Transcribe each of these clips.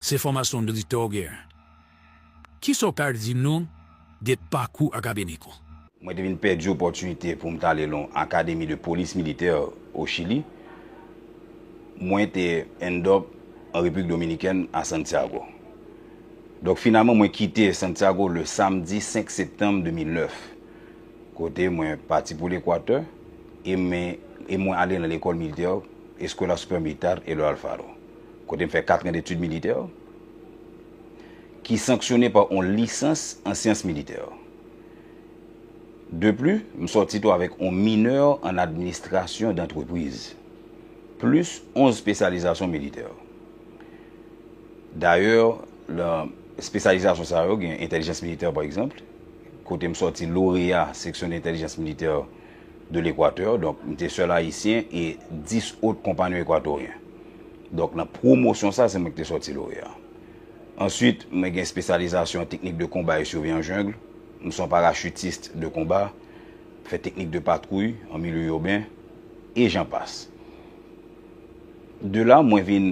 Se fòmasyon militè w gen. Ki sa w ka di nou de pakou akademik ou? Mwen te vin pèdi opòtinite pou m t ale lan Académie de Police Militaire au Chili. Mwen te end up an Repiblik Dominikèn a Santiago. Donk finalman mwen kite Santiago le samdi 5 septanm 2009. Kote mwen pati pou Lekwatè e mwen ale lan lekòl militè Escuela Superior Militar Eloy Alfaro. kote m fè katran detid militè, ki sanksyone pa on lisans an syans militè. De pli, m sòti tou avèk on minè an administrasyon dantrepriz, plis onz spesyalizasyon militè. Dayè, lan spesyalizasyon sa yo gen entèlijans militè pa egzanpl, kote m sòti loreya seksyon entèlijans militè, de l'Équateur, donk m te sèl Ayisyen e 10 ot konpanyon Ekwatoryen. Donk nan pwomosyon sa, se mwen ki te sòti loreya. Answit, mwen gen espesyalizasyon an teknik de konba e survi an jungle. M son parachutist de konba, m fè teknik de patwouy an milye urben, e jan pas. De la, mwen vin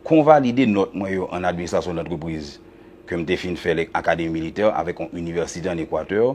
konvalide nòt mwen yo an administrasyon dantrepriz ke m te fin fè lè Akademi militè avèk yon inivèsite an Equateur,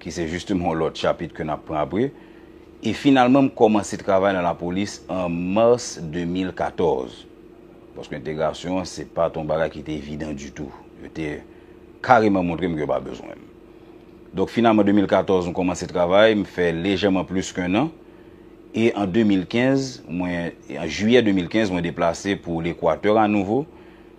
ki se justement yon lòt chapit ke nap pran apre, e finalman m kòmanse travay nan lapolis an mars 2014, paske entegrasyon an se pat yon bagay ki te evidan ditou, yo te kareman montre m ke yo pa bezwen m. Donk finalman 2014 m kòmanse travay, m fè lejèman plis ke 1 an, e an 2015 mwen, an jiyè 2015 mwen deplase pou lekwatè anouvo,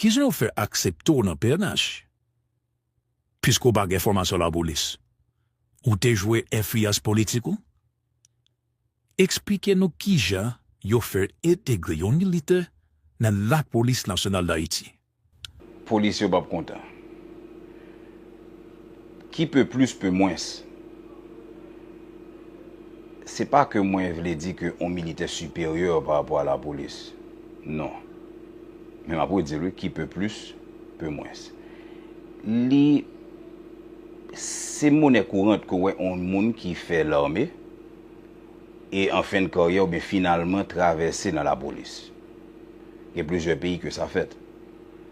Kijan yo fè aksepte w nan pnh? Piske w pa gen fòmasyon lapolis, ou te jwe enfliyans politik ou? Eksplike nou kijan yo fè entegre yon militè nan Lapolis Nasyonal Dayiti? Polis yo p ap kontan. Qui peut plus peut moins. Se pa ke mwen vle di ke on militè siperyè pa rapò a lapolis. Non. Men m ap redi l wi, qui peut plus peut moins. Li, se monè kourant ke w wè on moun ki fè lame e an fen de karyè oubyen finalman travèse nan lapolis. Gen plizyè peyi ke sa fèt.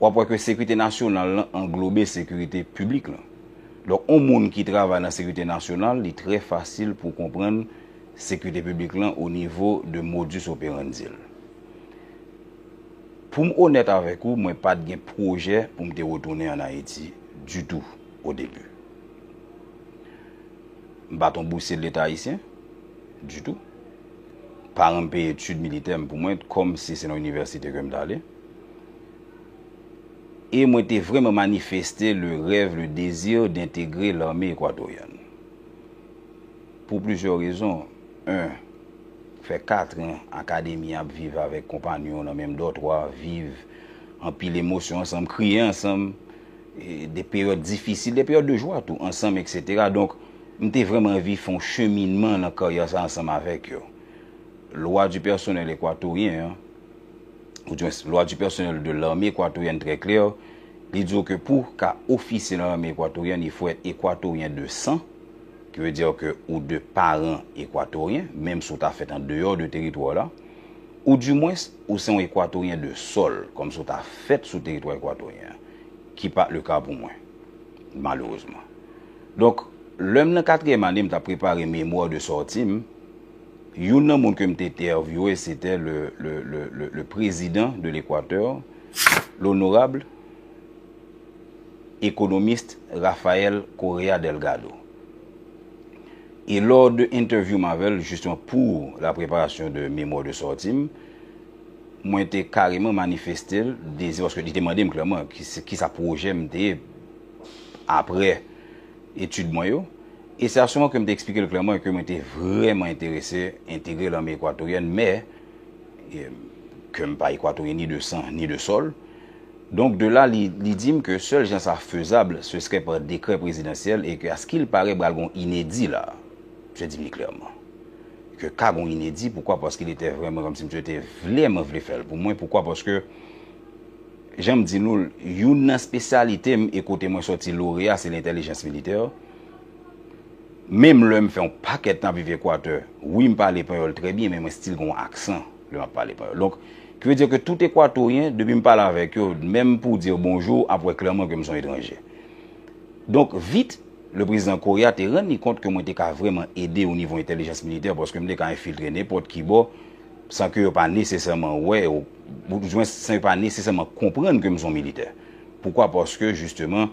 W ap wè ke sekirite nasyonal lan anglobe sekirite piblik lan. Donk yon moun ki travay nan sekirite nasyonal, li trè fasil pou w konprann sekirite piblik lan o nivo de modus operandi l. Pou m onèt avèk ou, mwen pa t gen pwojè pou m te retounen ann Ayiti ditou o debi. M pa t yon bousye de leta ayisyen, ditou. Paran m peye etid militè m pou mwen kòm si se nan inivèsite ke m t ale. e mwen te vrèman manifeste le rèv, le désir d'integrer l'armée équatorienne. Pou plizyè rezon, 1, fè katren Akademi an ap viv avèk konpanyon nan menm dòtwa, viv anpil emosyon ansanm, kriye ansanm, de peryòd difisil, de peryòd de jwa tou, ansanm eksetera. Donk, m te vrèman anvi fè yon cheminman nan karyè sa ansanm avèk yo. Loi du personnel équatorien an. ou di mwens Loi du personnel de l'armée équatorienne très claire, li di w ke pou w ka ofisye nan lame equatorienne il faut être équatorien de sang, ki vle dire ke ou de paran ekwatoryen, menm si w ta fèt an deyò de teritwa w la, ou di mwens ou se yon ekwatoryen de sol, kòm si w ta fèt sou teritwa ekwatoryen an, ki pa le ka pou mwen, malerezman. Donk, lè m nan katriyèm ane m t ap prepare memwa de sòti m, Youn nan moun ke m te entèvyouwe se te le prezidan de l'Equateur, l'honorable economiste Rafael Correa Delgado. E lò de entèvyou m avè l, jisteman pou la preparasyon de memwa de sòti m, mwen te kareman manifeste l dezi, paske li te mande m klèman ki sa pwojè m te ye apre etid mwen yo. E se a sou an ke m te eksplike l klèman e ke mwen te vrèman enterese entegre lame ekwatoryèn mè ke m pa ekwatoryen ni de san ni de sòl. Donk de la li di m ke sèl jan sa fezab se srè pa dekrè prezidansyèl e ke a ski'l pare bral gen yon inedi la. Msye di m li klèman. Ke ka gen yon inedi poukwa paske li te vrèman kòm si msye te vlèman vle fè l pou mwen poukwa paske jan m di nou l youn nan spesyalite m e kote mwen sòti loreya se lentèlijans militè. Menm lè m fè yon pakèt tan ap viv Ekwatè, wi m pale panyòl trè byen men mwen stil gen yon aksan lè m ap pale panyòl. Donk, ki vle di ke tout Ekwatoryen, depi m pale avèk yo, menm pou di yo bonjou, ap wè klèman ke m se yon etranje. Donk, vit, leprezidan Correa te rann li kont ke mwen te ka vrèman ede onivo entèlijans militè paske m te ka enfiltre nenpòt ki bò san ke yo pa nesesèman wè ou bzwen san yo pa nesesèman konprann ke m se yon militè. Poukwa? Paske, jisteman.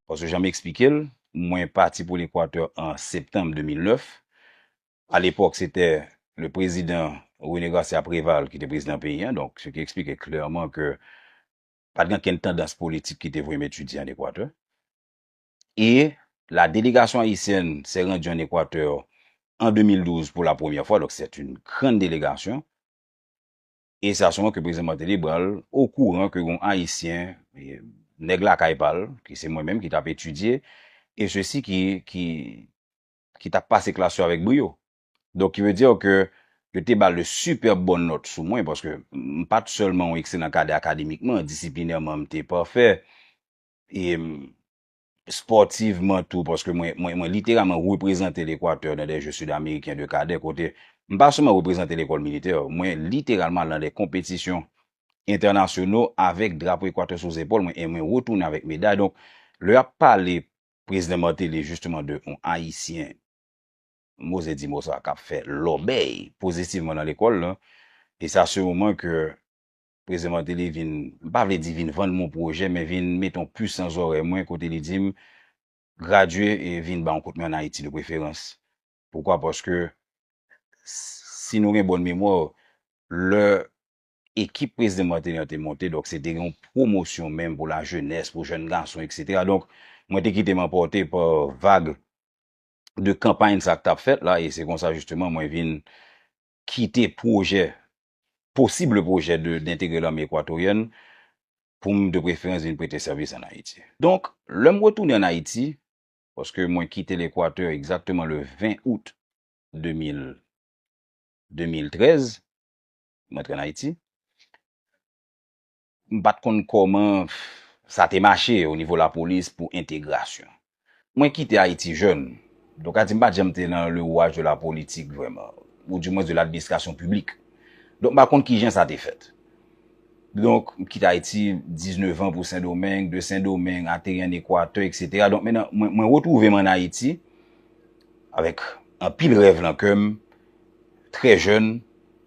Paske jan m eksplike l, mwen pati pou Lekwatè an septanm 2009. A lepòk se te le prezidan René Garcia Préval ki te prezidan peyi an, donk se te eksplike klèman ke pa t gen ankenn tandans politik ki te voye m etidye an Ekwatè. E la delegasyon ayisyèn sè randi an Ekwatè an 2012 pou la premyè fwa, donk sèt in grann delegasyon. E sa souvan ke Prezidan Martelly pran l okouran ke gon Ayisyen, nèg lakay pa l, ke se mwen menm ki t ap etidye, e sesi ki, ki, ki t ap pase klas yo avèk briyo. Donk ki ve di ke yo te ba l de sipèb bon nòt sou mwen, paske m pa t sèlman yon ekselan kadè akademikman, disiplinèman m te pafè, e m. spòtivman tou, paske mwen mwen literalman reprezante Lekwatè nan de Jeux Sud-Américains de Cadets kote m pa sèlman reprezante lekòl militè, mwen literalman al nan de konpetisyon entènasyono avèk drapo Ekwatè sou zepòl mwen e mwen retounen avèk meday. Donk, lè y ap pale Prezidan Martelly jisteman de yon Ayisyen, m oze di mo sa, k ap fè lòbèy pozitivman nan lekòl lan, e sa se yon moman ke Prezidan Martelly vin, m pa vle di vin vann m on pwojè, men vin mete on pus nan zòrèy mwen kote li di m, Gradye e vin ba on kout men an Ayiti de preferans. Poukwa? Paske si nou gen bòn memwa, lè ekip Prezidan Martelly an te monte, donk se te gen on pwomosyon menm pou lajenès, pou jèn gason eksetera. Donk mwen te kite m anpòte pa vag de kanpay sa k t ap fèt la e se konsa jisteman mwen vin kite pwojè posible pwojè de dentegre lame ekwatoryèn pou m de preferans vin prete sèvis an Ayiti. Donk, lè m retounen an Ayiti, paske mwen kite Lekwatè egzakteman le 20 out 2000, 2013, m antre an Ayiti, M pa t konn kòman sa te mache o nivo lapolis pou entegrasyon. Mwen kite Ayiti jèn, donk ka di m pa t janm te nan le rouaj de la politik vrèman, ou di mwens de ladministrasyon piblik. Donk m pa konn kijan sa te fèt. Donk m kite Ayiti, diznevan pou Sendomeng, de Sendomeng ateri an Ekwatè eksetera. Donk mennan mwen retwouve m an Ayiti avèk anpil rèv lan kè m, trè jèn.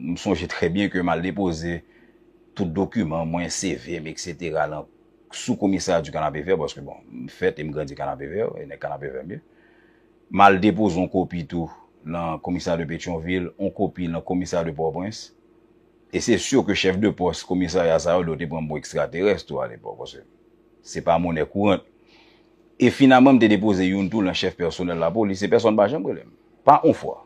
M sonje trè byen ke m al depoze tout dokiman mwen, CV m, eksetera, lan sou komisarya di Kanapevè, paske bon, m fèt e m grandi Kanapevè, e nèg Kanapevè m ye. M al depoze yon kopi tou lan komisarya de Petyonvil, yon kopi lan komisarya de Pòtoprens. E se sur ke chèf de pòs komisarya sa yo, yo te pran m pou ekstraterès tou alepòk, paske se pa monè kourant. E finalman m te depoze youn tou lan chèf pèsonèl lapolis, e pèsonn pa janm rele m. Pa yon fwa.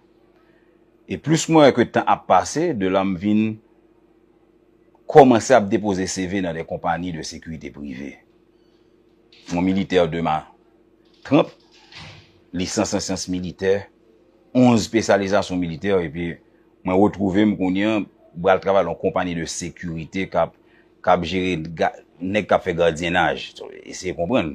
E plis mwen wè ke tan ap pase, de la m vin kòmanse ap depoze CV nan de konpani de sekirite prive. Yon militè de ma tranp, lisans an syans militè, 11 pespsyalizasyon militè, epi mwen retwouve m kounye an, m pral travay lan yon konpani de sekirite k ap jere nèg k ap fè gadyenaj. Eseye konprann.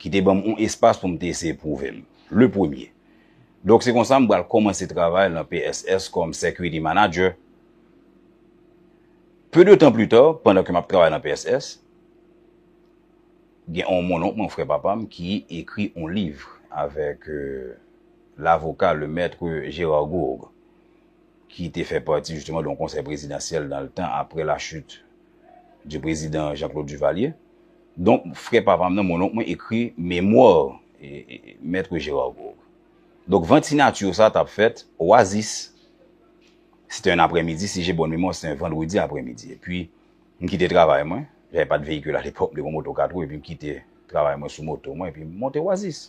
ki te ban m yon espas pou m te eseye pwouve m, le premye. Donk se konsa m pral kòmanse travay lan PSS kòm Security Manager. Peu de tan pli ta, pandan ke m ap travay lan PSS, gen yon mononk mwen, frè papa m, ki ekri yon liv avèk lavoka, le Maître Gérard Gourgue. ki te fè pati jisteman don konsèy prezidansyèl dan le tan apre la chit di prezidan Jean Claude Duvalier. Donk frè papa m nan, mononk mwen ekri memwa Maitre Gérard Gourgue. Donk vant sinatur sa tap fèt Oasis. Se te un aprè midi, si je bonne memwa se te un vandredi aprè midi. E pi m kite travay mwen, j'avais pas de véhicule à l'époque, m te gon moto 4 wou e pi m kite travay mwen sou moto mwen e pi m monte Oasis.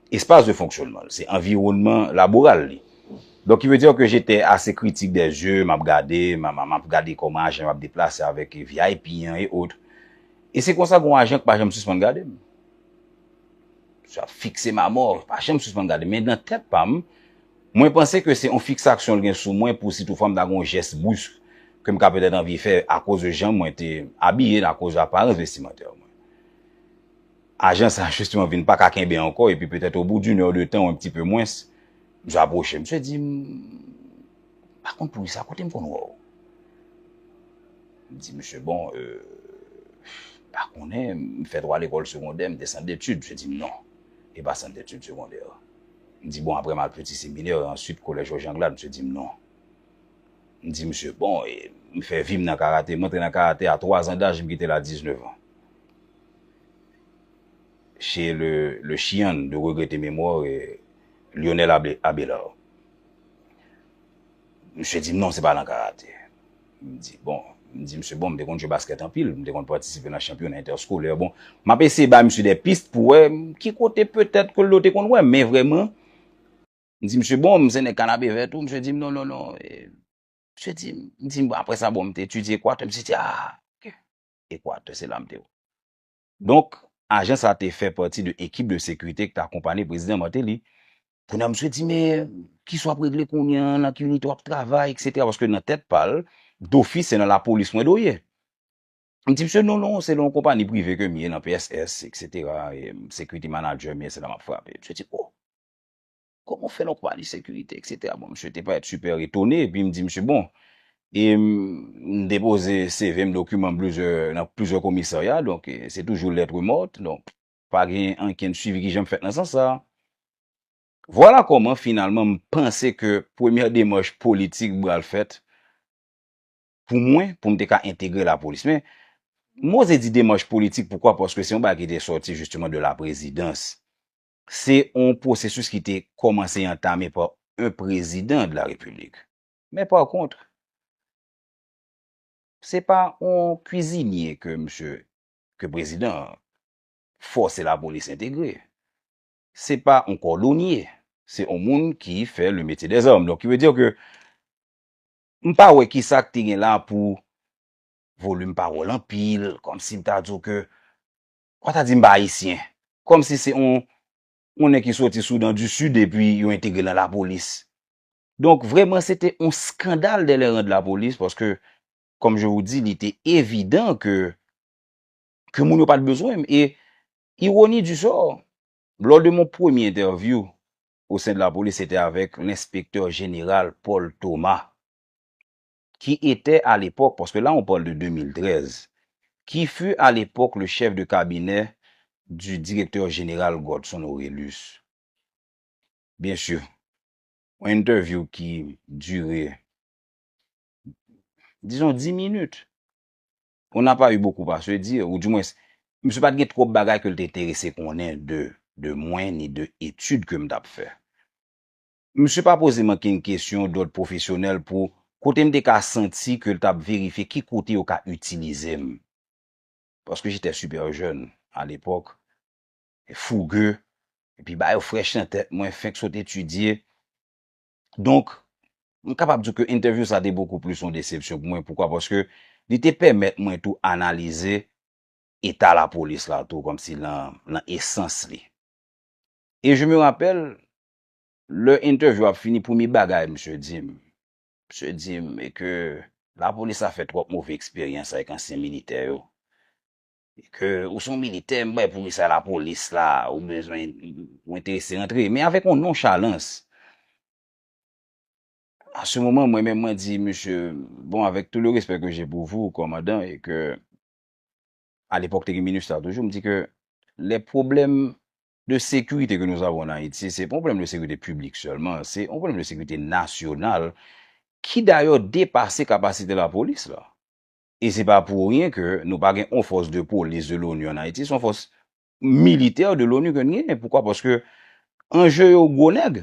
Espas de fonksyonman l, se anviwonnman laboral li. Donk ki ve dire ke jete ase kritik dè zye m ap gade, m a m ap gade kòman ajan yo ap deplase avèk vip an e otre. E se konsa gen yon ajan ki pa janm sispann gade m. Sa fikse m a mò, li pa janm sispann gade m. Men nan tèt pa m, mwen panse ke se yon fiksaksyon l gen sou mwen pou si tou fwa m ta gen yon jès brisk ke m ka petèt anvi fè akoz de jan mwen te abiye, akoz de aparans vestimantè mwen. Ajan sa jisteman vin paka kenbe ankò epi petèt obou d'une heure de tan ou enpti pe mwens, msye apwoche m. Msye di m, M pa konn pou kisa, kote m konn wè w? M di msye, Bon, m pa konnen, m fè twa lekòl segondè, m te sant detid. Msye di m, Non, e pa sant detid segondè. M di, Bon, aprè m al piti seminè, e answit kolèj Jòj Anglad? Msye di m, Non. M di msye, Bon, e m fè vi m nan karate, m antre nan karate a twazan daj, m kite l a diznevan. Chez le le chian de regrette mémoire Lionel Abelard. Msye di m non se pa nan karate. M di bon, m di msye bon m te konn jwe basket anpil, m te konn patisipe nan chanpyona entèskolè. Bon, m ap eseye bay msye de pist pou wè ki kote petèt ke l do te konn wè m. Men vrèman, m di msye bon, m se nèg Kanapevè tou, msye di m non non non. Msye di m, m di m bon apre sa bon m te etidye ekwatè, msye di a ok. Ekwatè, se la m te wè. Donk, ajan sa te fè pati de ekip de sekirite ki te akonpanye Prezidan Martelly. Kounye a misye di, men, kisa w ap regle kounye a, nan ki inite w ap travay, eksetera, paske nan tèt pa l, dofis se nan lapolis mwen dwe ye. M di misye, non, non, se nan yon konpani prive ke m ye, nan PSS, eksetera, e sekirite manadjè m ye, se la m ap frape. Misye di, o! Koman w fè la w pale sekirite eksetera. Bon msye te parèt super etone epi m di msye bon e m depoze CV m dokiman m plizyè nan plizyè komisarya donk se toujou lettre morte donk pa gen ankenn swivi ki janm fèt nan sans sa. Vwala kòman finalman m panse ke premyè demach politik bral fèt pou mwen pou m te ka entegre lapolis men m oze di demach politik poukwa paske se yon bagay ki te sòti jisteman de laprezidans Se yon pwosesis ki te kòmanse antame pa yon prezidan de la repiblik. Men pa kont, se pa yon kwizinye ke misye, ke prezidan an, fòse lapolis entegre. Se pa yon kòdonye. Se yon moun ki fè le metye dè zàm. Donk ki vle di ke m pa wè ki sa ki te gen la pou volim pawòl anpil, kòm si m ta di w ke Ou ta di m pa Ayisyen. Kòm si se yon yon nèg ki soti Soudan di Sid epi yo entegre l nan lapolis. Donk, vrèman se te yon skandal dè lè rand lapolis paske kòm je wou di li te evidan ke ke moun yo pa t bezwen m. E ironi di sò, lò de mon premye entèvyou o sen de lapolis se te avèk lenspektè jeneral Paul Thomas. qui était à l'époque, parce que là on parle de 2013, qui fut à l'époque le chef de cabinet du directeur général Godson Orélus. Bien sûr, yon interview ki dure, disons 10 minutes. On n'a pas eu beaucoup à se dire, ou du moins, misye pa t gen twòp bagay ke l te enterese konnen de mwen ni de etid ke m t ap fè. Msye pa poze manke yn kesyon dòd pwofesyonèl pou kote m te ka santi ke l t ap verifye ki kote yo ka itilize m. Paske j'étais super jeune à l'époque, et fougueux, epi ba yo frèch nan tèt mwen, fenk sot etidye. Donk, m kapab di w ke entèvyou sa te bokou plis yon desepsyon pou mwen. Poukwa? Paske li te pèmèt mwen tou analize eta lapolis la tou, kòmsi lan esans li. Et je me rappelle, Lè entèvyou ap fini premye bagay misye di m, misye di m e ke lapolis la fè twòp move eksperyans avèk ansyen militè yo e ke ou son militè m bay poukisa lapolis la ou bezwen ou enterese rantre men avèk yon nonchalans. A se moman mwen menm mwen di misye bon avèk tou le respè ke je pou vou kòmandan e ke alepòk te gen minustah toujou m di ke lè pwoblèm de sekirite ke nou avon an Ayiti, se pa yon pwoblèm de sekirite piblik sèlman, se yon pwoblèm de sekirite nasyonal, ki dayè depase kapasite lapolis la. E se pa pou ryen ke nou pa gen yon fòs de polis de l'ONU an Ayiti, se yon fòs militè de l'ONU ke nou genyen. Poukwa? Paske anje yo gwo nèg.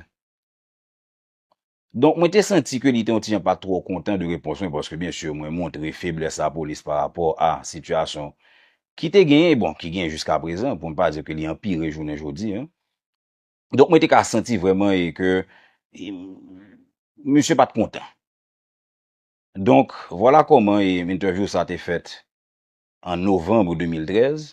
Donk mwen te santi ke li te yon ti jan pa twò kontan de repons mwen paske byen sur mwen montre feblès lapolis pa rapò a sitiyasyon ki te genyen e bon ki genyen jiska prezan pou m pa di ke li anpire jounen jodi an. Donk mwen te ka santi vrèman e ke misye pa t kontan. Donk vwala kòman e entèvyou sa te fèt an novanbre 2013.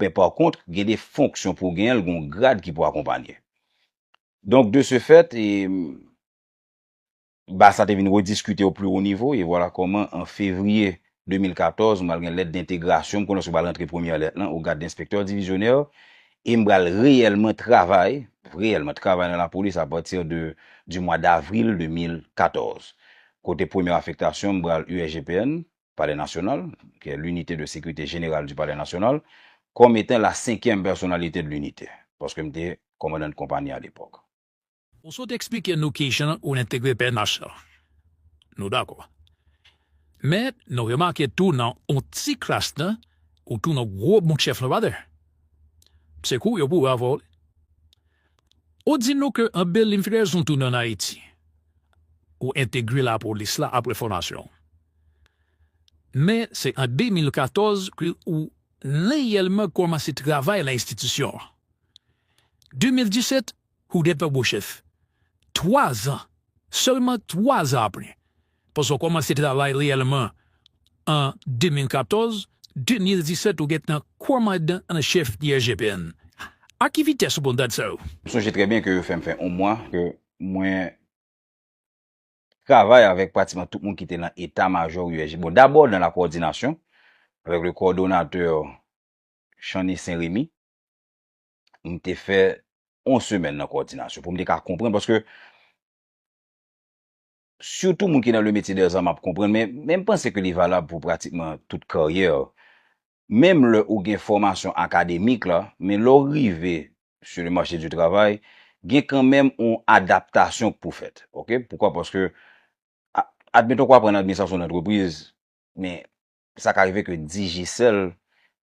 Men pa kont, gen de fonksyon pou w genyen l, gen yon grad ki pou akonpanye. Donk, de se fèt, baz sa te vin rediskite o pli wo nivo, e vwala kòman an fevriye 2014, m pral gen lèt dentegrasyon, m konnen se w pral rantre premyè lèt lan, o grad denspektè divizyonè, e m pral reyèlman travay, reyèlman travay nan lapolis apati de di mwa davril 2014. Kote premye afektasyon m pral USGPN, Palè Nasyonal, ki è L'Unité de Sécurité Générale du Palais National, kòm etan la senkyèm pèsonalite de l'Unité, paske m te kòmandan de konpani a lepòk. Ou sot eksplike nou kijan ou entegre pnh la. Nou dakò. Men, nou remake tou nan on ti kras tan, ou tou nan gwo bon chèf lan pa dè. Se kou yo pou ou avò wi. Ou di nou ke an Beliv Rezon tounen an Ayiti. Ou entegre lapolis la apre fòmasyon ou. Men se an 2014 ke ou reyèlman kòmanse travay nan enstitisyon an. 2017, ou gen tanbou chèf. Twazan, sèlman twazan apre, paske ou kòmanse travay reyèlman an 2014, 2017 ou gen tan kòmandan an chèf IRGPN. A ki vitès ou konn dat sa yo? M sonje trè byen ke yo fè m fè on mwa ke mwen. travay avèk pratiman tout moun ki te nan eta majò USG. Bon, dabò nan la kowòdinasyon avèk le kowòdonatè Channy Saint Remy, m te fè yon semèn nan kowòdinasyon pou m te ka konprann, paske sitou moun ki nan le metye dè zam ap konprann, men m panse ke li valab pou pratikman tout karyè Menm lè ou gen fòmasyon akademik la, men lè w rive sur le marché du travail, gen kanmenm yon adaptasyon k pou fèt. Ok? Poukwa? Paske, admeton ke w aprann administrasyon dantrepriz, men sa ka rive ke Digicel,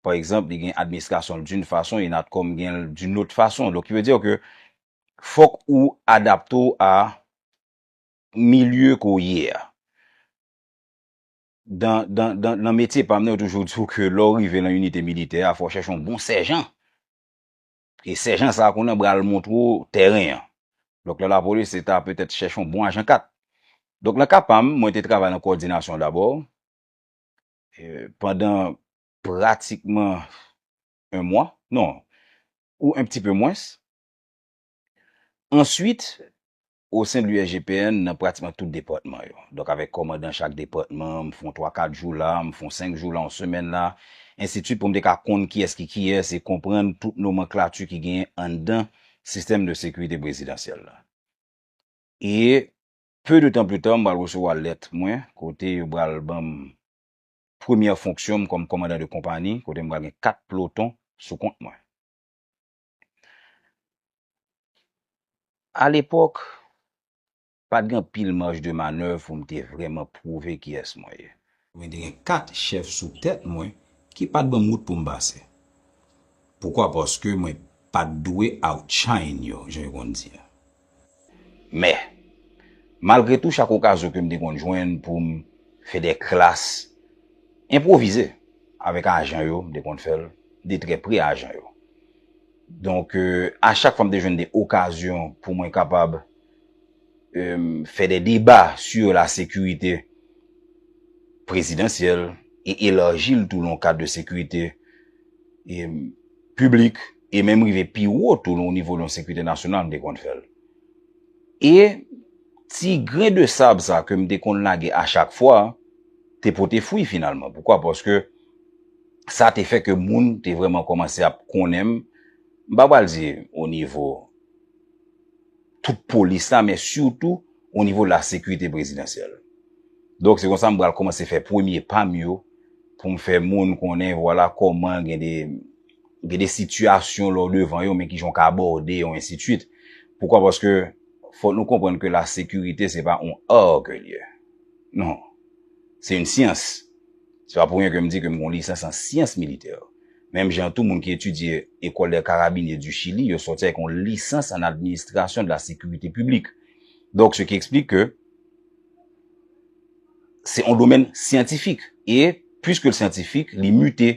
pa egzanp, li gen administrasyon l d'une façon et Natcom gen l d'une autre façon. Donc, ki vle dire ke fòk ou adapte w a milieu ke w ye a. Dan, dan, dan, nan metye pa m nan yo toujou di w ke lè w rive lan inite militè a fò w chèche yon bon sèjan. E sèjan sa a konnen bral montre w tèren an. Donk lan lapolis se ta petèt chèche yon bon ajan 4. Donk lan ka pa m, mwen te travay lan kòdinasyon dabò. Pandan pratikman 1 mwa, non, ou 1 pti pe mwens. Answit, osen de l'USGPN nan pratikman tout depatman yo. Donk avèk kòmandan chak depatman, m fon twa kat jou la, m fon senk jou la, yon semèn la, ensitit pou m te ka konn kiyès ki kiyès e konprann tout nomanklati ki genyen anndan sistèm de sekirite prezidansyèl la. E peu de tan pli ta, m pral resevwa lèt mwen kote yo pral ban m premyè fonksyon m kòm kòmandan de konpani kote m pral gen kat ploton sou kont mwen. A lepòk, pa t gen anpil maj de manèv pou m te vrèman pwouve kiyès mwen ye. Mwen te gen kat chèf sou tèt mwen ki pa t ban m wout pou m pase. Poukwa? Paske mwen pa t dwe outshine yo, jan yo konn di a. Mè. Malgre tou chak okazyon ke m te konn jwenn pou m fè de klas enpwovize avèk ajan yo, m te konn fè l de trè pre ajan yo. Donk, a chak fwa m te jwenn de okazyon pou mwen kapab fè de deba sur la sécurité présidentielle et élargie l tou lan kad de sécurité publique, E menm rive pi wo tou nan onivo yon sekirite nasyonal m te konn fè l. E ti gren de sab sa ke m te konn lage a chak fwa te pote fwi finalman. Poukwa? Paske sa te fè ke moun te vreman komanse ap konnen m, m pa pral di onivo tout polis la men sitou onivo lasekirite prezidansyèl. Donk se konsa m pral komanse fè premye pa m yo pou m fè moun konnen vwala koman gen de. Gen de sitiyasyon lè w devan yo men ki jan w ka abòde yo ensi twit. Poukwa paske fòk nou konprann ke la sekirite se pa yon ar ke l ye. Non. Se yon syans. Se pa pou ryen ke m di ke m gon lisans an syans militè. Menm jan tou moun ki etidye Ecole des Carabiniers du Chili yo sòti avèk yon lisans an administration de la sécurité publique. Donk se ki eksplike ke se yon domèn syantifik e pwiske l syantifik li mute.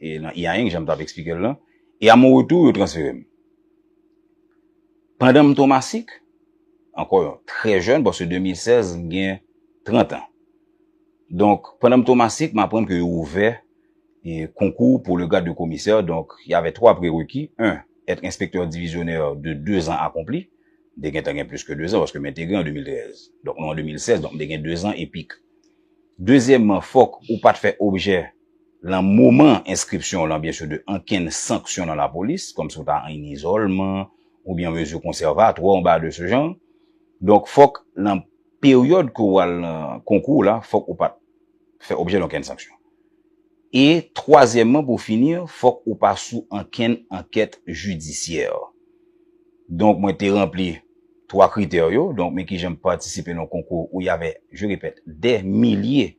e nan Iaing jan m tap eksplike l lan, e a mon retou yo transfere m. Pandan m Tomasik, ankò yon trè jèn paske 2016 m gen 30 an. Donk pandan m Tomasik m aprann ke yo ouvè e konkou pou le grade de commissaire donk y avè 3 prereki, 1 être inspecteur divisionnaire de 2 ans accompli, m te gentan gen plis ke 2 zan paske m entegre an 2013, donk nou an 2016 donk m te gen 2 zan epik. Dezyèmman fòk ou pat fè objè Lan moman enskripsyon w lan byen sou de ankenn sanksyon lan lapolis, kòm si w ta an izòlman ou byen mezi konsèvatwa ou bagay de se jan. Donk fòk lan peryòd ke w al lan konkou w la fòk ou pat fè objè donkenn sanksyon. E twazyèmman pou fini fòk ou pa sou ankenn ankèt jidisyè. Donk mwen te ranpli twa kritè yo, donk men kijan m patisipe lan konkou ou y avè, je repèt, dè milye.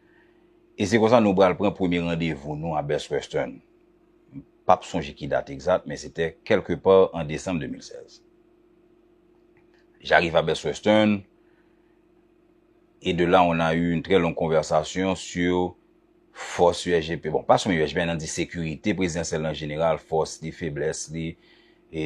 E se konsa nou pral pran premye randevou nou a Best Western. M pap sonje ki dat egzat men se te quelque part en décembre 2016. J'arrive à Best Western et de là on a eu une très longue conversation sur fòs USGPN, bon pa sèlman USGPN nan di sekirite prezidansyèl an jeneral, fòs li, feblès li, e.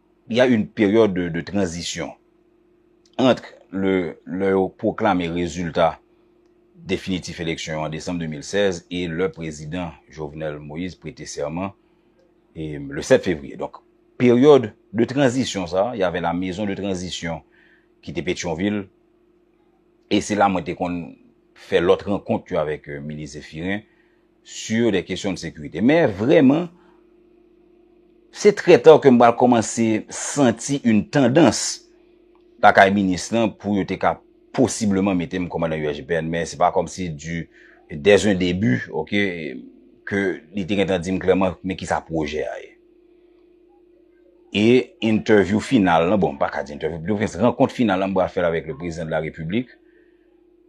y a une période de de transition entre le lè yo pwoklame rezilta definitif eleksyon yo an desanm 2016 e lè prezidan Jovenel Moïse prete sèman e le 7 fevriye. Donk, peryòd de tranzisyon sa a, y avè la mezon de tranzisyon ki te Petyonvil e se la mwen te konn fè lòt rankont yo avèk minis Zephirin Sur des questions de sécurité. Men vreman, se trè ta ke m pral komanse santi yn tandans lakay minis lan pou yo te ka posibleman mete m komandan USGPN. Men se pa komsi du dès un début, ok, ke li te gentan di m klèman men kisa pwojè a ye. E entèvyou final lan, bon m pa ka di entèvyou, de prefèranse rankont final lan m pral fè l avèk le Prezidan de la Repiblik.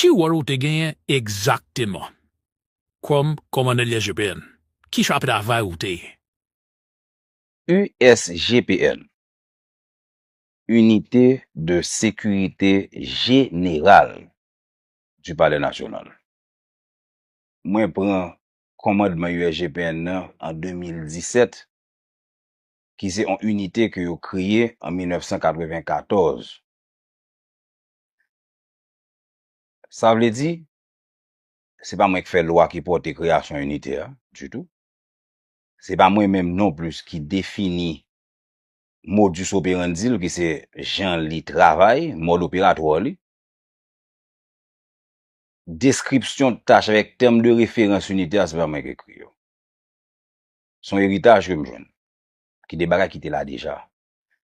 Ki wòl ou te genyen egzakteman kòm kòmandè USGPN? Ki chapit travay ou te? USGPN, Unité de Sécurité Générale du Palais National. Mwen pran kòmandman USGPN nan an 2017, ki se yon inite ke yo kreye an 1994. Sa vle di, se pa mwen ki fè lwa ki pòte kreyasyon inite a, ditou. Se pa mwen menm nonplis ki defini modus operandi l ki se jan li travay, mòd operatwa li. Deskripsyon tach avèk tèm de referans inite a se pa mwen ki ekri yo. Se yon eritaj ke m jwenn, ki de bagay ki te la deja.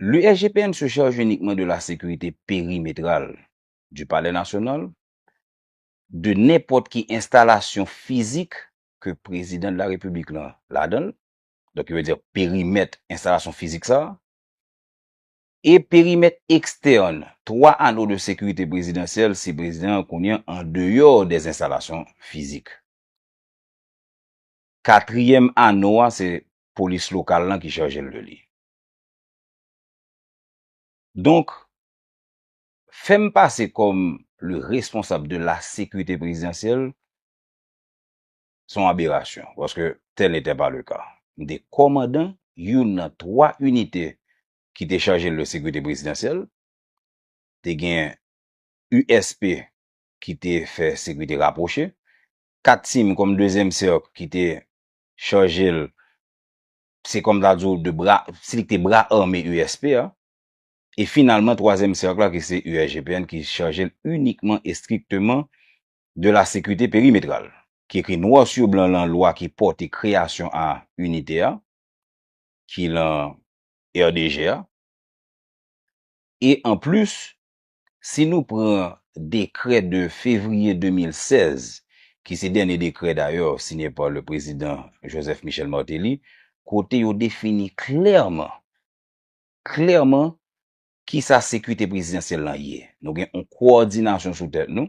Le SGPN se charge uniquement de la sécurité périmétrale du Palais National, de nenpòt ki enstalasyon fizik ke Prezidan de la Repiblik lan ladan l, donk yo vle di perimèt enstalasyon fizik sa a, e perimèt ekstèn 3 ano de sekirite prezidansyèl si Prezidan an kounye an an deyò dè enstalasyon fizik. Katriyèm ano a se polis lokal lan ki charje l de li. Donk, fè m pase kòm le responsab de la sekirite prezidansyèl, se yon aberasyon, paske tèl n'etè pa le ka. M te kòmandan youn nan 3 inite ki te chaje le sekirite prezidansyèl, te gen USP ki te fè sekirite rapwoche, 4 tim kòm dezyèm sèk ki te chaje l se kòm ta di w de bra, se li ki te bra ame USP a, e finalman twazyèm sèk la ki se USGPN ki chaje l inikman e strikteman de la sekirite perimetral, ki ekri nwa su blan lan lwa ki pòte kreyasyon a inite a, ki lan RDG a, e anplis Si nou pran dekrè de fevriye 2016, ki se dènye dekrè dayè siyen pa le prezidan Joseph Michel Martelly, kote yo defini klèman, klèman kisa sekirite prezidansyèl lan ye. Nou gen yon kowòdinasyon sou tèt nou.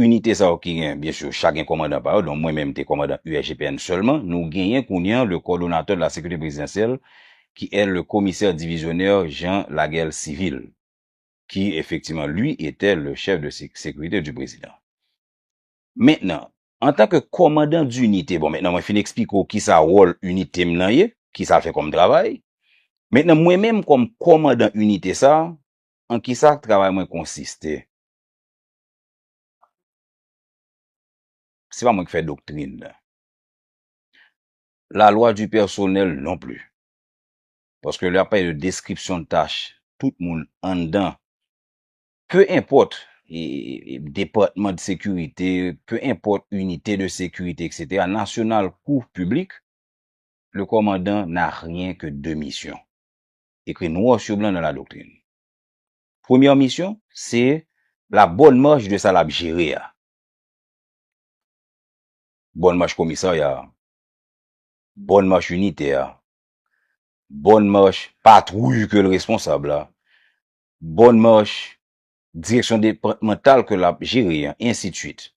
Inite sa yo ki gen, byen sûr, chak gen kòmandan pa yo, donk mwen menm m te kòmandan USGPN sèlman, nou genyen kounye an le Coordonnateur de la Sécurité Présidentielle qui est le Commissaire Divisionnaire Jean Laguerre Civil, qui, effectivement, lui était le Chef de Sécurité du Président. Mentnan, an tan ke kòmandan dinite, bon, mentnan mwen fin eksplike w ki sa wòl inite m nan ye, ki sa l fè kòm travay, mentnan mwen menm kòm kòmandan inite sa, an ki sa travay mwen konsiste? Se pa mwen ki fè doktrin nan. La lwa di pèsonèl non pli. Paske lè y ap pale de deskripsyon tach tout moun anndan, pe enpòt depatman de sekirite, pe enpòt inite de sekirite eksetera, nasyonal kou piblik, le kòmandan n'a rien que 2 misyon. Ekri nwa sou blan nan la doktrin. Premyè misyon se la bonne marche de sa lap jere a. Bonne marche komisarya a. Bonne marche inite a. Bonne marche patrouille ke l responsab la. Bonne marche direksyon depatmantal ke lap jere an ensi de suite.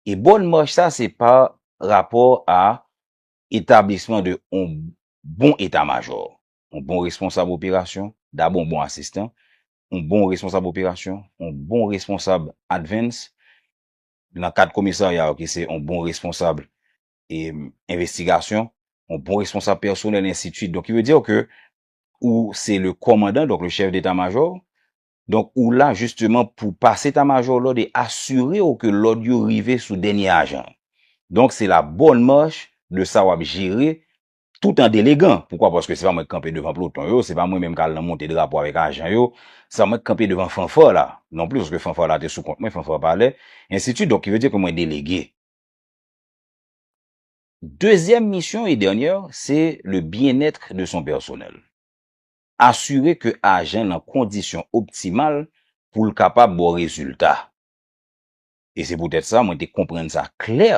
E bonne marche sa se pa rapò a etablisman de yon bon eta majò. yon bon responsab operasyon, dabò yon bon asistan, yon bon responsab operasyon, yon bon responsab advens, nan kad komisarya yo ki se yon bon responsab envestigasyon, yon bon responsab pèsonèl ensitsuit. Donk ki vle di yo ke ou se le kòmandan, donk le chèf deta majò, donk ou la jisteman pou pase eta majò lòd e asire yo ke lòd yo rive sou dènye ajan. Donk se la bòn mach de sa wap jere tout an delegan. Poukwa? Paske se pa mwen k kanpe devan ploton yo, se pa mwen menm k al nan monte drapo avèk ajan yo, se pa mwen k kanpe devan fanfare la non plis, paske fanfare la te sou kont mwen, fanfare palè, ensitu donk ki vle di ke mwen delege. Dezyèm misyon e dènyè, se le bien-être de son personnel. Asire ke ajan nan kondisyon optimal pou l kapab ba w rezilta. E se poutèt sa mwen te konprann sa klè.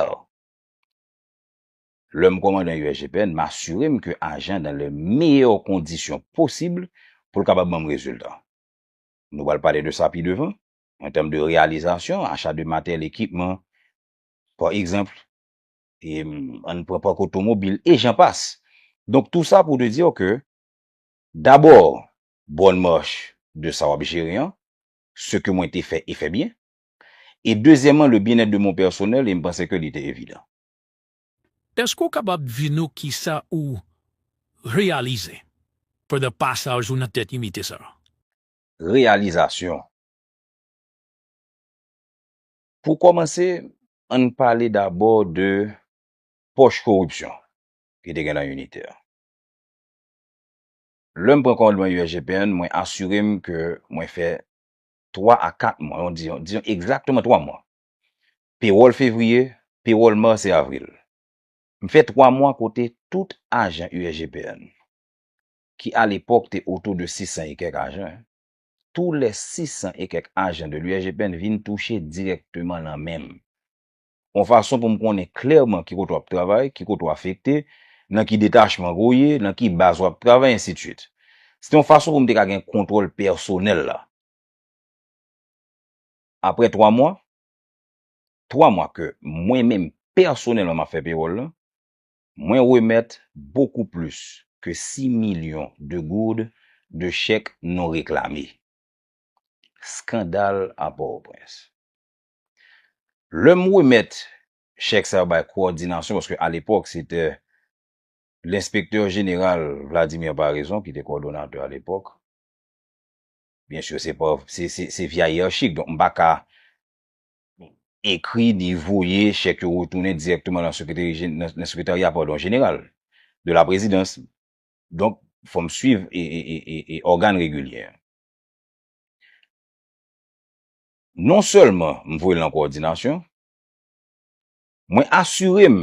Lè m kòmandan USGPN, m asire m ke ajan nan le meyè kondisyon posib pou l kapab ban m rezilta. Nou pral pale de sa pi devan, an tèm de reyalizasyon, acha de materyèl, ekipman, pa egzanp, e an n pran pak otomobil, e jan pas. Donk tou sa pou te di w ke dabò bòn mach de sa w ap jere an, se ke mwen te fè e fè byen, e dezyèman le byenèt de mon pèsonèl e m panse ke li te evidan. Eske ou kapab di nou kisa ou reyalize pandan pasaj ou nan tèt inite sa a? Reyalizasyon, Pou kòmanse, ann pale dabò de pòch koripsyon ki te gen nan inite a. Lè m pran kòmandman USGPN, mwen asire m ke mwen fè twa a kat mwa, diyon egzakteman twa mwa, Pewòl fevriye, pewòl mas e avril. M fè 3 mwa kote tout ajan USGPN, ki alepòk te otou de 600 e kèk ajan, tou lè 600 e kèk ajan de l'USGPN vin touche dirèkteman nan men m. On fason pou m konnen klèman ki kote w ap travay, ki kote w afekte, nan ki detachman ke w ye, nan ki baz w ap travay, ensidswit. Se te yon fason pou m te ka gen kontwòl pèsonèl la. Aprè 3 mwa, 3 mwa ke mwen menm pèsonèlman map fè pewòl lan, mwen remèt bokou plis ke 6 milyon de gourd de chèk non reklame. Skandal a Pòtoprens. Lèm remèt chèk sa yo bay kowòdinasyon, paske alepòk se te lenspektè jeneral Vladimir Paraison ki te kowòdonatè alepòk, Byen sur se pa se via yiyarchik donk m pa ka ekri ni voye chèk yo retounen dirèkteman nan sekretarya padon jeneral de la prezidans donk fò m swiv e ògàn regilyè an. Non sèlman m voye l nan kowòdinasyon mwen asire m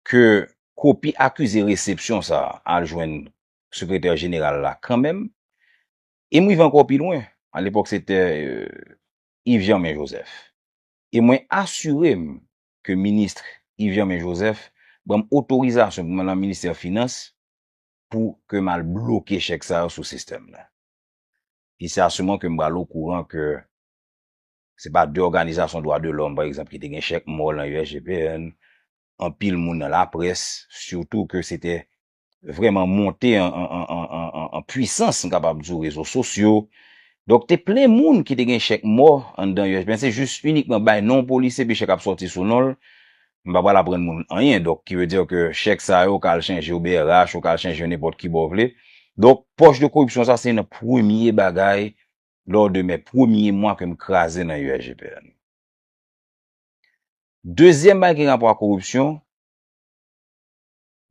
ke kopi akize resepsyon sa a al jwenn Sekretè Jeneral la kanmenm, e m rive ankò pi lwen, alepòk se te Yves Germain Joseph, e mwen asire m ke Ministr Yves Germain Joseph ban m otorizasyon pou m al nan Ministè Finans pou ke m al bloke chèk sa yo sou sistèm la. E se a ce moment ke m pral okouran ke Se pa de òganizasyon dwa de lòm, pa egzanp, ki te gen chèk mò lan USGPN, anpil moun nan laprès, sitou ke se te vrèman monte an pwisans, m kapab di w, rezo sosyo. Donk, te plen moun ki te gen chèk mò anndan USGPN. Se jis inikman bay non polisye epi chèk ap sòti sou non l. M pa pral aprann moun anyen. Donk, ki ve di ke chèk sa yo ka al chanje OBRH, yo ka al chanje yo nenpòt ki bò w vle. Donk, pòch de koripsyon sa se nan premye bagay lò de mè premye mwa ke m kraze nan USGPN. Dezyèm bagay ki gen rapò ak koripsyon,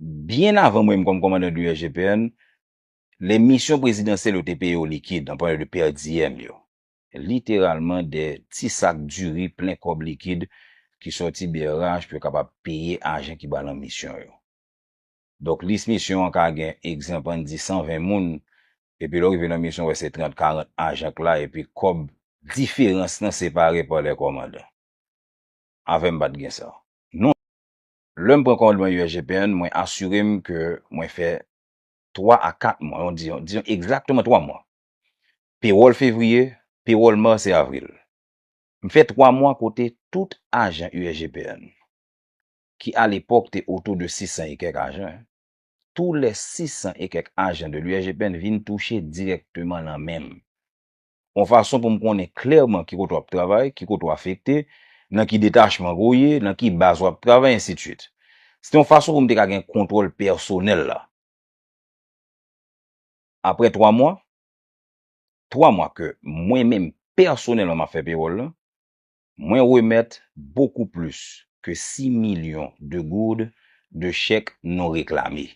byen avan mwen m kòm kòmandan de USGPN, lè misyon prezidansyèl yo te peye yo likid, an palan de per diem yo, literalman de ti sak diri plen kòb likid ki sòti brh pou yo kapab peye ajan ki ba lan misyon yo. Donk lis misyon an ka gen egzanp an di 120 moun, epi lè w rive nan misyon w wè se 30, 40 ajan k la epi kòb diferans lan separe pa lè kòmandan. Avè m pa t gen sa. Non. Lè m pran kòmandman USGPN, mwen asire m ke mwen fè 3 a 4 mwa, yon di, diyon egzakteman 3 mwa. Pewòl fevriye, pewòl mas e avril. M fè 3 mwa kote tout ajan USGPN, ki alepòk te otou de 600 e kèk ajan, tou lè 600 e kèk ajan de l'URGPN vin touche dirèkteman lan men m. On fason pou m konnen klèman ki kote w ap travay, ki kote w afekte, nan ki detachman ke w ye, nan ki baz w ap travay, ensidswit. Se te on fason pou m te ka gen kontwòl pèsonèl la. Aprè 3 mwa, 3 mwa ke mwen menm pèsonèlman m ap fè pewòl lan, Mwen remèt bokou plis ke si milyon de goud de chèk non reklame.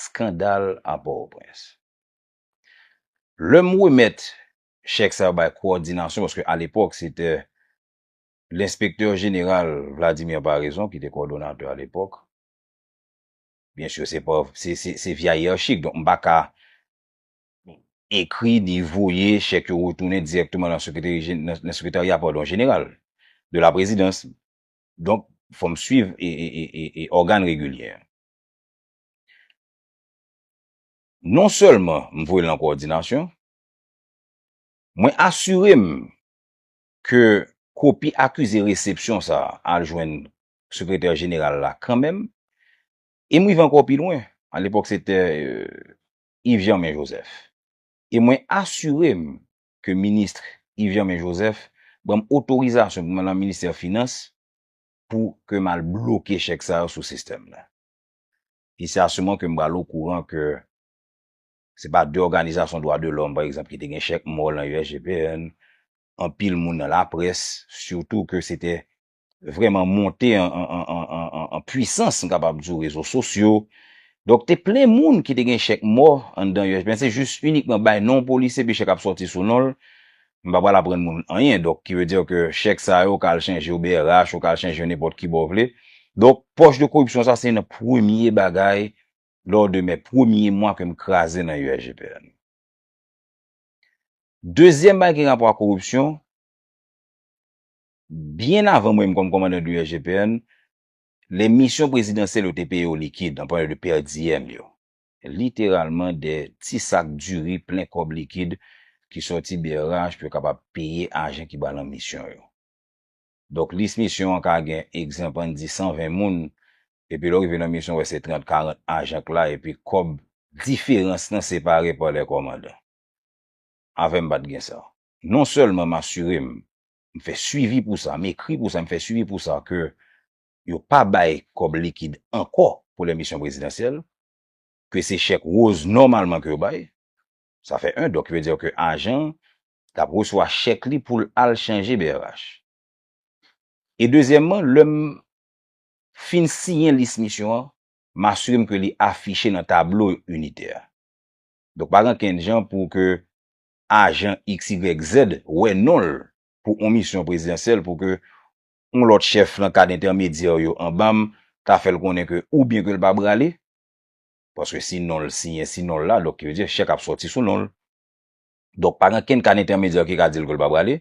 Skandal a Pòtoprens. Lè m remèt chèk sa yo bay kowòdinasyon, paske alepòk se te lenspektè jeneral Vladimir Paraison ki te kowòdonatè alepòk, byen sur se pa, se via iyerchik, donk m pa ka ekri ni voye chèk yo retounen dirèkteman nan sekretarya jeneral de la prezidans. Donk, fò m swiv ògàn regilye an. Non sèlman m voye l nan kowòdinasyon, mwen asire m ke kopi akize resepsyon sa a al jwenn sekretè jeneral la kanmenm e m rive ankò pi lwen, alepòk se te Yves Germain Joseph. E mwen asire m ke Ministr Yves Germain Joseph ban m otorizasyon pou m al nan Ministè Finans pou ke m al bloke chèk sa yo sou sistèm la. E se a se moman ke m pral okouran ke se pa de òganizasyon dwa de lòm, pa egzanp, ki te gen chèk mò lan USGPN, anpil moun nan laprès, sitou ke se te vreman monte an pwisans, m kapab di w, rezo sosyo. Donk te plen moun ki te gen chèk mò anndan yo. Mwen se jis inikman bay non polisye epi chèk ap sòti sou non l. M pa pral aprann moun anyen. Donk ki ve di ke chèk sa yo ka al chanje yo brh, yo ka al chanje yo nenpòt ki bò w vle. Donk pòch de koripsyon sa se nan premye bagay lò de mè premye mwa ke m kraze nan USGPN. Dezyèm bagay ki gen rapò ak koripsyon, Byen avan mwen m kòm kòmandan de USGPN, lè misyon prezidansyèl yo te peye yo likid, an palan de per diem yo, literalman de ti sak diri plen kòb likid ki sòti brh pou yo kapab peye ajan ki ba lan misyon yo. Donk lis misyon an ka gen, egzanp ann di 120 moun, epi lè w rive lan misyon w wè se 30, 40 ajan k la epi kòb diferans lan separe pa lè kòmandan. Avè m pa t gen sa. Non sèlman m asire m m fè swivi pou sa, m ekri pou sa, m fè swivi pou sa ke yo pa bay kòb likid ankò pou lèmisyon prezidansyèl, ke se chèk woz nòmalman ke yo bay. Sa fè 1, donk ki vle di ke ajan an t ap resevwa chèk li pou l al chanje brh. E dezyèmman, lè m fin siyen lis misyon an, m asire m ke li afiche nan tablo initè a. Donk pa gen ankenn jan pou ke ajan XYZ wè non l pou on misyon prezidansyèl pou ke on lòt chèf nan kad entèmedyè w yo anba m ta fè l konnen ke oubyen ke l pa brale, paske si non l siyen si non l la, donk ki vle di chèk ap sòti sou non l. Donk pa gen kenn kad entèmedyè ki ka di l ke l pa brale,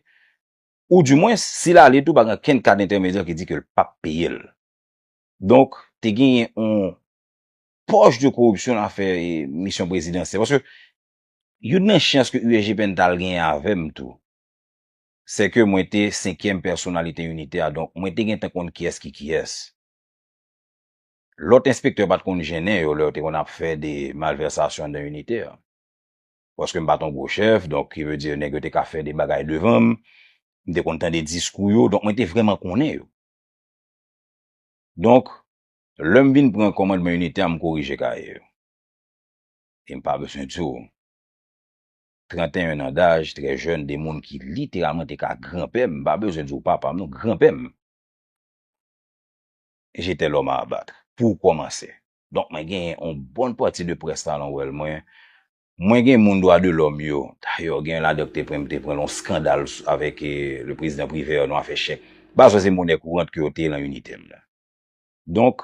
ou di mwens si l ale tou pa gen kenn kad entèmedyè ki di ke l pap peye l. Donk te genyen on pòch de koripsyon nan afè misyon prezidansyèl, paske Youn nan chans ke UEJPN t al genyen avè m tou, sè ke mwen te senkyèm pèsonalite inite a, donk mwen te gen tan konn kiyès ki kiyès. Lòt enspektè pa t konn jennen yo lè yo te konn ap fè de malvèsasyon anndan inite a. Paske m pa t yon gwo chèf, donk ki vle di nèg yo te ka fè de bagay devan m, m te konn tande diskou yo, donk mwen te vrèman konnen yo. Donk, lè m vin pran kòmandman inite a, m korije kaye yo. E m pa bezwen di w, 31 an daj, trè jèn, 2 moun ki literalman te ka granpè m, m pa bezwen di w papa m non, granpè m, j'étais l'homme à abattre, pou w kòmanse. Donk mwen genyen yon bon pati de près la nan wèl mwen. Mwen gen moun dwa de lòm yo, dayè gen ladan ki te pran, m te pran nan yon skandal avèk le prezidan Privert nan afè chèk. M pa bezwen se monè kourant ke yo te lan inite m nan. Donk.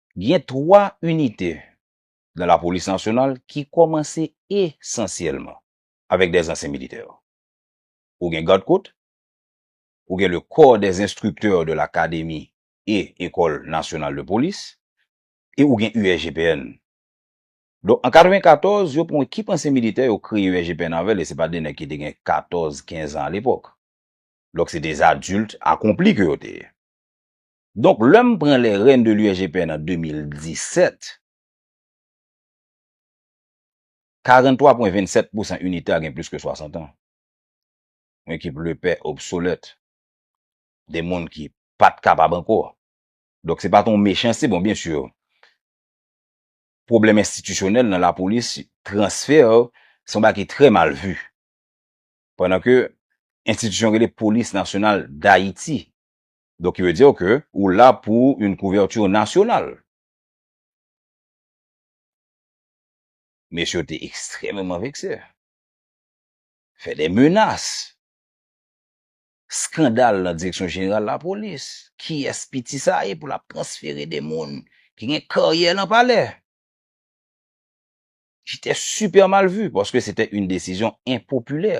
Gen 3 inite nan lapolis nasyonal ki kòmanse esansyèlman avèk dè zansyen militè. Ou gen Gad Kot, ou gen le Corps des Instructeurs de l'Académie et École Nationale de Police e ou gen USGPN. Donk an 94, yo pran ekip ansyen militè yo kreye USGPN avè l e se pa de nèg ki te gen 14, 15 an alepòk. Donk se de adult akonpli ke yo te ye. Donk lè m pran les rènes de l'USGPN an 2017, 43,27 pousan inite a gen plis ke 60 an. Yon ekip lepè, obsolèt, de moun ki pa t kapab ankò. Donk se pa t yon mechanste, bon byen sur, pwoblèm enstitisyonèl nan lapolis, transfè, se yon bagay ki trè mal vu. Pandan ke enstitisyon rele Polis Nasyonal Dayiti. Donc qui veut dire que ou la pou une couverture nationale. Mesye yo te ekstrememan vekse. Fè de menas. Skandal nan direksyon jeneral lapolis. Kiyès piti sa ye pou l ap transfere de moun ki gen karyè nan palè? Ki te sipè mal vu paske se te yon desizyon enpopilè.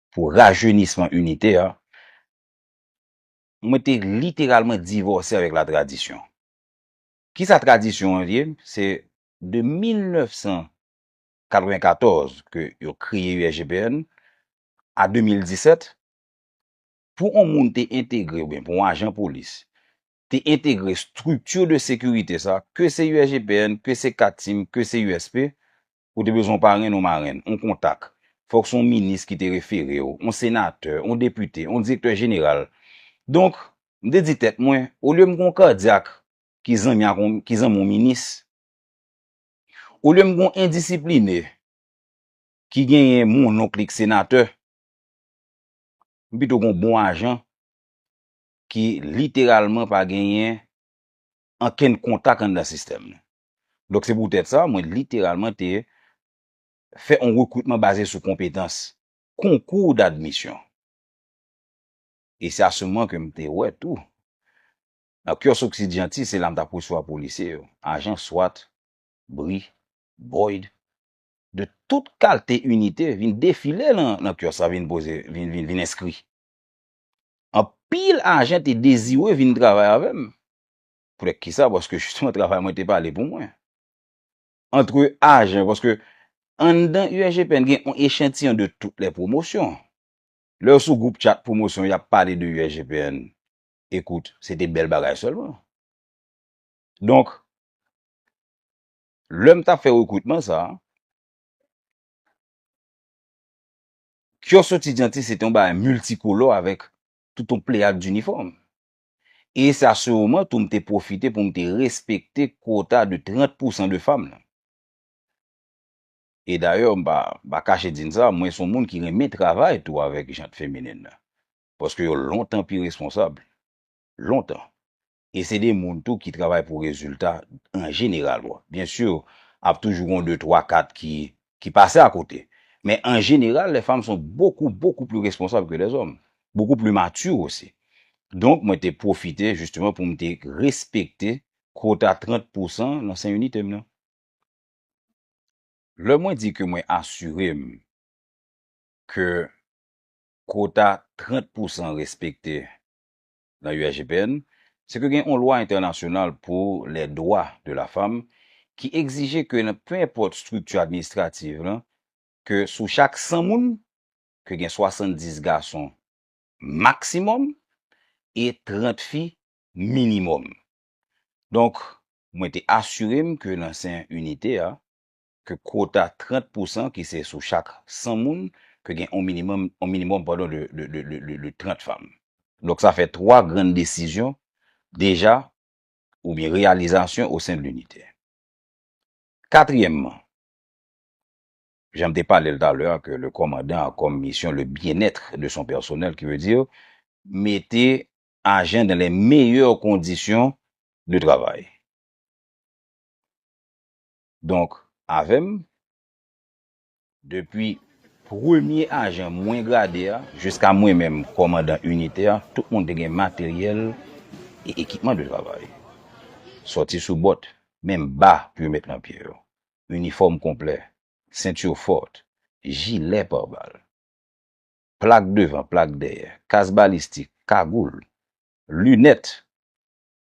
pou rajeunisman inite a, mwen te literalman divòse avèk la tradisyon. Ki sa tradisyon an ye? Se de 1994 ke yo kreye USGPN a 2017, pou on moun te entegre oubyen pou on ajan polis te entegre structure de sécurité sa, ke se USGPN, ke se Cat Team, ke se USP, Ou te bezwen yon parenn, yon marenn, yon kontak. Fòk se yon minis ki te refere w, yon senatè, yon depite, yon direktè jeneral. Donk, m te di tèt mwen, olye m gen yon kadyak ki zanmi ak yon, ki zanmi yon minis, olye m gen yon endisipline ki genyen mononk li k senatè, m pito gen yon bon ajan ki literalman pa genyen ankenn kontak anndan sistèm nan. Donk se poutèt sa, mwen literalman te fè yon rekritman baze sou konpetans, concours d'admission. E se a ce moment ke m te wè tou, nan Kios Occidianti, se la m t ap resevwa polisye yo, ajan swat, bri, boyd, de tout kalte inite vin defile nan kios la vin poze, vin enskri. Anpil ajan te dezire vin travay avè m. Poutèt ki sa? Paske jisteman travay mwen te pale pou mwen. Antre ajan, paske anndan USGPN gen yon echantiyon de tout lè pwomosyon. Lè yo sou gwoup chat pwomosyon y ap pale de USGPN, ekout, se te bèl bagay sèlman. Donk, lè m t ap fè rekritman sa, kyòs soti Dyanti se te yon bagay miltikolò avèk tout yon pleyad dinifòm. E sa seurman tou m te pwofite pou m te respekte kwota de 30 pousan de fanm lan. E dayè m pa pa kache di n sa, mwen son moun ki renmen travay tou avèk jant feminin lan. Paske yo lontan pi responsab. Lontan. E se de moun tou ki travay pou rezilta an jeneral. Bon, byen sur, ap toujou gon de twa kat ki ki pase a kote. Men an jeneral les femmes sont beaucoup beaucoup plus responsables que les hommes, beaucoup plus matures aussi. Donk mwen te pwofite justement pou m te respekte quota 30 pou san nan sen inite m nan. Lè mwen di ke mwen asire m ke quota 30 pou san respekte nan USGPN, se ke gen on lwa entènasyonal pou les droits de la femme ki egzije ke nan pe enpòt strikti administrativ lan, ke sou chak 100 moun, ke gen 70 gason maksimòm e 30 fi minimòm. Donk, mwen te asire m ke nan sen inite a, ke kwota 30 pousan ki se sou chak 100 moun ke gen yon minimòm yon minimòm padon de de de de 30 fanm. Donk sa fè 3 grann desizyon deja oubyen reyalizasyon osen de linite. Katriyèmman, jan m te pale l talè a ke le kòmandan a kòm misyon le bien-être de son personnel ki vle di mete ajan dan lè meyè kondisyon de travay. Donk avè m, depi premye ajan mwen grade a jiska mwen menm kòmandan inite a, tout moun te gen materyèl e ekipman de travay. Sòti sou bòt, menm ba pou yo met nan pye yo, inifòm konplè, sentur fòrt, jilè par bal, plak devan, plak dèyè, kas balistik, kagoul, linèt.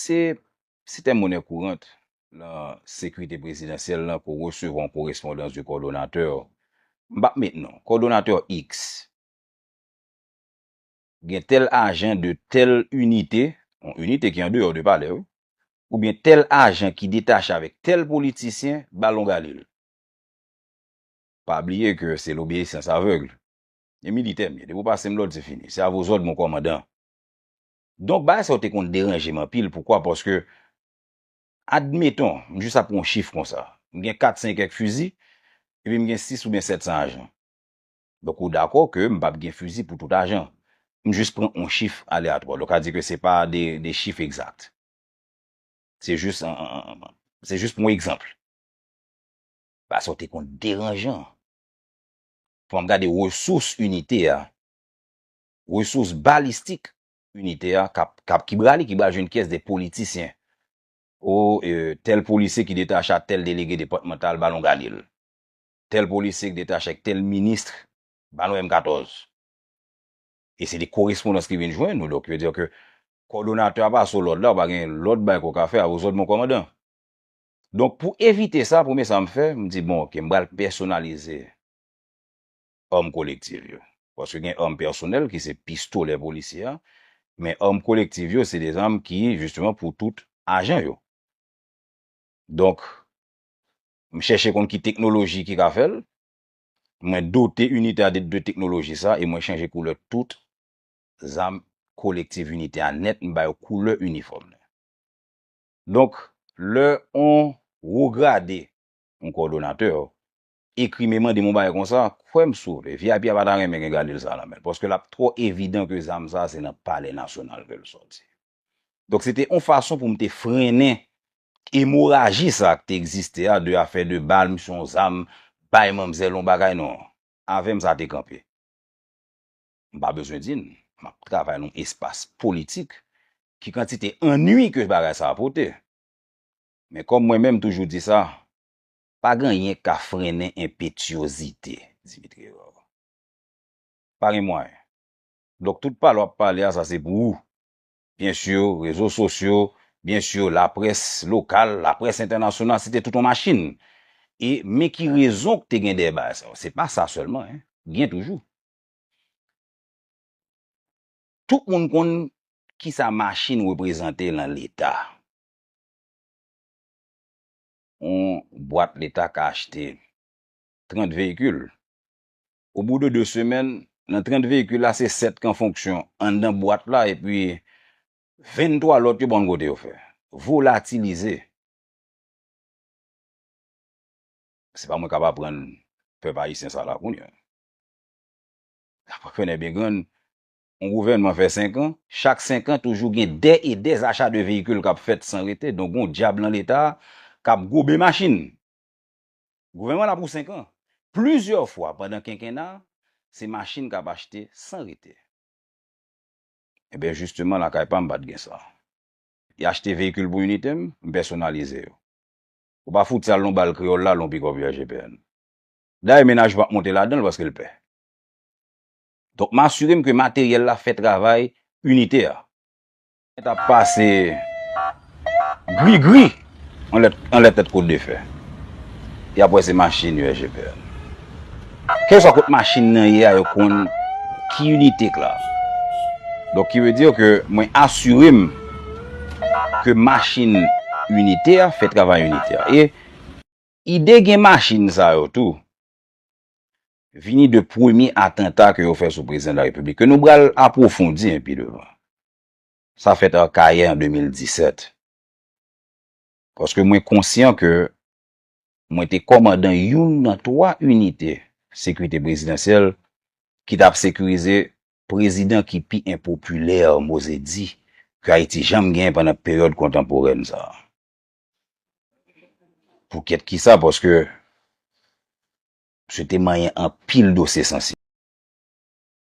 Se Sitèm Monè Kourant lan Sekrite Prezidansyèl lan ke w resevwa yon korespondans de kòdonatè, m p ap met non, kòdonatè Iks gen tèl ajan de tèl inite, yon inite ki andeyò de palè wi, oubyen tèl ajan ki detache avèk tèl politisyen ba l yon galil. Pa bliye ke se lobeyisyans avègl. E militè m ye. Depi w pase m lòd, se fini. Se a vos òd, mon kòmandan. Donk, bagay sa yo te konn deranje m anpil. Poukwa? Paske, admeton, m jis ap pran yon chif konsa. M gen kat sen kèk fizi, epi m gen sis oubyen sèt san ajan. Donk, ou dakò ke m p ap gen fizi pou tout ajan. M jis pran yon chif aleyatwa. Donk, sa vle di ke se pa de chif egzat. Se jis, se jis pou yon egzanp. Bagay sa yo te konn deranjan. Fòm gade resous inite a, resous balistik inite a kap kap ki bra li ki bra jwenn kyès de politisyen. O e tèl polisye ki detache a tèl delege depatmantal ba nou gade l. Tèl polisye ki detache ak tèl ministre ba nou M 14. E se de korespondans ki vin jwenn nou donk yo diw ke kòdonatè a pa sou lòd la ou pa gen lòd bay ke w ka fè a ou zòd mon kòmandan. Donk pou evite sa, premye sa m fè, m di bon ok, m pral pèsonalize arm kolektiv yo. Paske gen arm pèsonèl ki se pistolè polisye a, men arm kolektiv yo se de zam ki jisteman pou tout ajan yo. Donk, m chèche konn ki teknoloji ki ka fè l, mwen dote inite a de teknoloji sa e mwen chanje koulè tout zam kolektiv inite a nèt, m ba yo koulè inifòm li. Donk, lè on wograde, on kòdonatè, ekri me mande m on bagay konsa, kwè m sove, vip a pa ta renmen gen galil sa a nan men l, paske l ap twò evidan ke zam sa a se nan Palè Nasyonal ke l sòti. Donk, se te on fason pou m te frennen emoraji sa a ki te egziste a, de afè de bal, m son zam, bay manmzèl on bagay, non. Avè m sa te kanpe. m pa bezwen di n, m ap travay nan yon espas politik, ki kantite annui ke bagay sa a pote. Men kòm mwen menm m toujou di sa, pa gen anyen k ka frennen enpetyozite Dimitri Herard. Pa gen mwayen. Donk tout pale w ap pale a sa se pou ou. Byen sur, rezo sosyo, byen sur laprès lokal, laprès entènasyonal, se te tout yon machin. E men ki rezon k te gen dèyè bagay sa yo. Se pa sa sèlman, gen toujou. Tout moun konn kisa machin reprezante lan leta. Yon bwat leta ka achte 30 veyikil. O bou de 2 semèn, lan 30 veyikil la se 7 kan fonksyon anndan bwat la epi 23 lòt yo pa konn kote yo fè. Volatilize. Se pa mwen kap aprann pèp ayisyen sa la kounya. Apa fè nè byen grann, yon gouvènman fè 5 an, chak 5 an toujou gen dè e dè zacha de veyikil k ap fèt san rete, donk gen yon dyab lan Leta k ap gobe machin. Gouvènman la pou 5 an. Plizyè fwa pandan kenkena, se machin k ap achte san rete. Enben jisteman lakay pa m pa t gen sa. Y achte veyikil pou inite m, m pèsonalize yo. Ou pa fout sal nou ba l kreyòl la lè yon pikòp UAGPN. Dayè mennaj pap monte ladanl paskel pè. Donk m asirem ke materyèl la fè travay inite a. Mwen tap pase grigri anlè tèt kout defè. Yap wè se machin USGPN. Kèlkeswa kot machin nan ye a yo konn ki inite k la. Donk ki ve dire ke mwen asirem ke machin inite a fè travay inite a. Ide gen machin sa yo tou vini de premye atanta ke yo fè sou prezidan la repiblik ke nou pral apwofondi an pi devan. Sa fèt Akayè an 2017. Paske mwen konsyan ke mwen te kòmandan youn nan 3 inite sekirite prezidansyèl ki tap sekirize prezidan ki pi enpopilè, mo ze di, ke Ayiti janm gen pandan peryòd kontanporèn sa a. Pou kèt ki sa paske misye te manyen anpil dosye sansib.